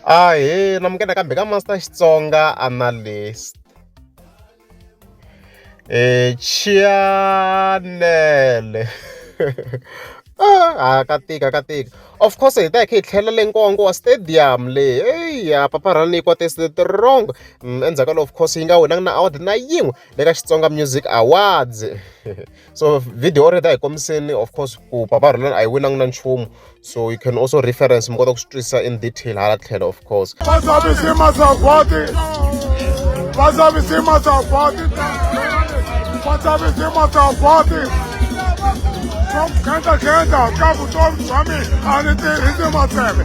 Ahee, namukela kambe ka Master Xitsonga Analyst. Eh, Chianele. ah ka tika ka tika of course hi ta hi kha hi tlhela le nkongo wa stadium le eyi ya paparhana yi kwate strong mm, endzhaku ka lo of course yi nga winanga na award na yin'we le ka xitsonga music awards so video or ta hi kombiseni of course ku papa rona a yi winangi na nchumu so you can also reference mi kota ku swi twisisa in detail hala tlhelo of course Kenta kenta, kapu tom sami, ani te hindi matseme.